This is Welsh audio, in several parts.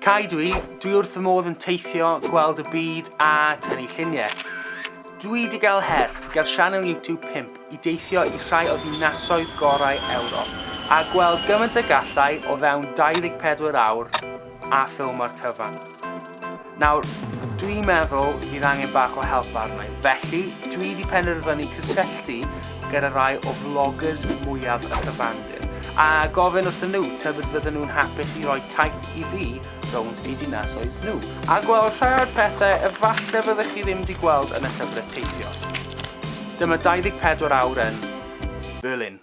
Cai dwi, dwi wrth fy modd yn teithio, gweld y byd a tynnu lluniau. Dwi di gael her, gael sianel YouTube 5 i deithio i rhai o ddinasoedd gorau Ewrop a gweld gymaint y gallai o fewn 24 awr a ffilm o'r cyfan. Nawr, dwi'n meddwl bydd angen bach o help arna i, felly dwi wedi penderfynu cysylltu gyda rai o vloggers mwyaf y cyfandir, a gofyn wrth nhw tybed fydden nhw'n hapus i roi taith i fi rownd eu dinasoedd nhw, a gweld rhai o'r pethau efallai fyddech chi ddim wedi gweld yn y llyfrau teithio. Dyma 24 awr yn Berlin.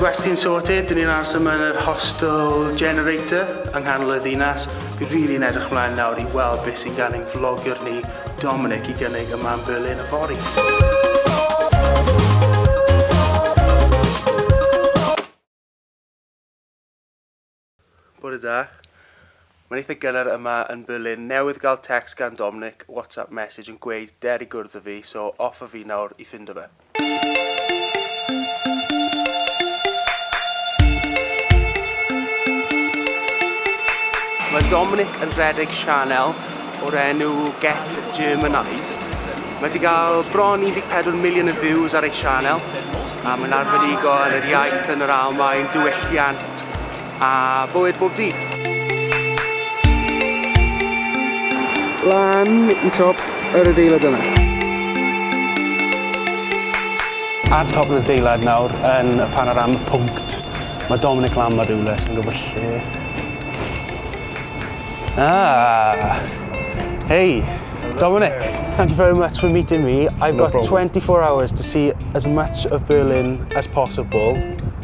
Gwesty'n sorted, dyn ni'n aros yma yn yr hostel generator yng nghanol y ddinas. Fi'n rili really edrych mlaen nawr i weld beth sy'n gan ein vlogger ni, Dominic, i gynnig yma yn Berlin y fori. Bore da. Mae'n eitha gynnar yma yn Berlin. Newydd gael text gan Dominic, WhatsApp message yn gweud der i gwrdd â fi, so off a fi nawr i ffindo fe. Mae Dominic yn rhedeg sianel o'r enw Get Germanised. Mae wedi cael bron 14 miliwn o views ar ei sianel a mae'n arbenigo yn yr iaith yn yr Almaen, diwylliant, a bywyd bob dydd. Lan i top yr adeilad yna. Ar top yr adeilad nawr yn y panorama pwnct, mae Dominic Lamb ar rywle sy'n gwybod lle. Ah! Hey, Dominic, thank you very much for meeting me. I've no got problem. 24 hours to see as much of Berlin as possible.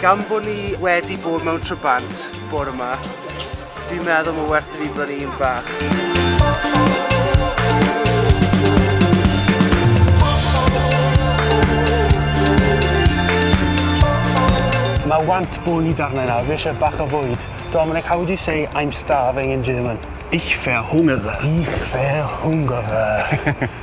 Gan bod ni wedi bod mewn trybant bore yma, fi'n meddwl mae werth i fi brynu un bach. Mae want bwyd arna nawr, fi eisiau bach o fwyd. Dominic, how would you say I'm starving in German? Ich verhungere. Ich verhungere.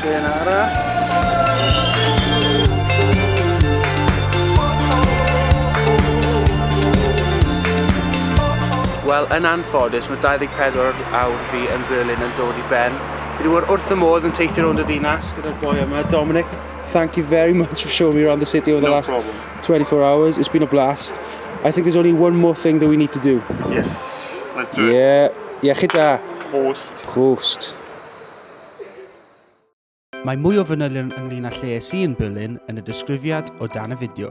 Trên arall. Wel, yn anffodus, mae 24 awr fi yn Berlin yn dod i ben. Fi wedi bod wrth y modd yn teithio rownd y ddinas gyda'r boi yma, Dominic. Thank you very much for showing me around the city over the no last problem. 24 hours. It's been a blast. I think there's only one more thing that we need to do. Yes, let's do it. Yeah, iechyd da. Hos. Ghost. Mae mwy o fanylion ynglyn â lle es i yn Berlin yn y disgrifiad o dan y fideo.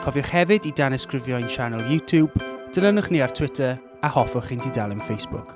Cofiwch hefyd i danysgrifio ein sianel YouTube, dilynwch ni ar Twitter a hoffwch ein tudalen Facebook.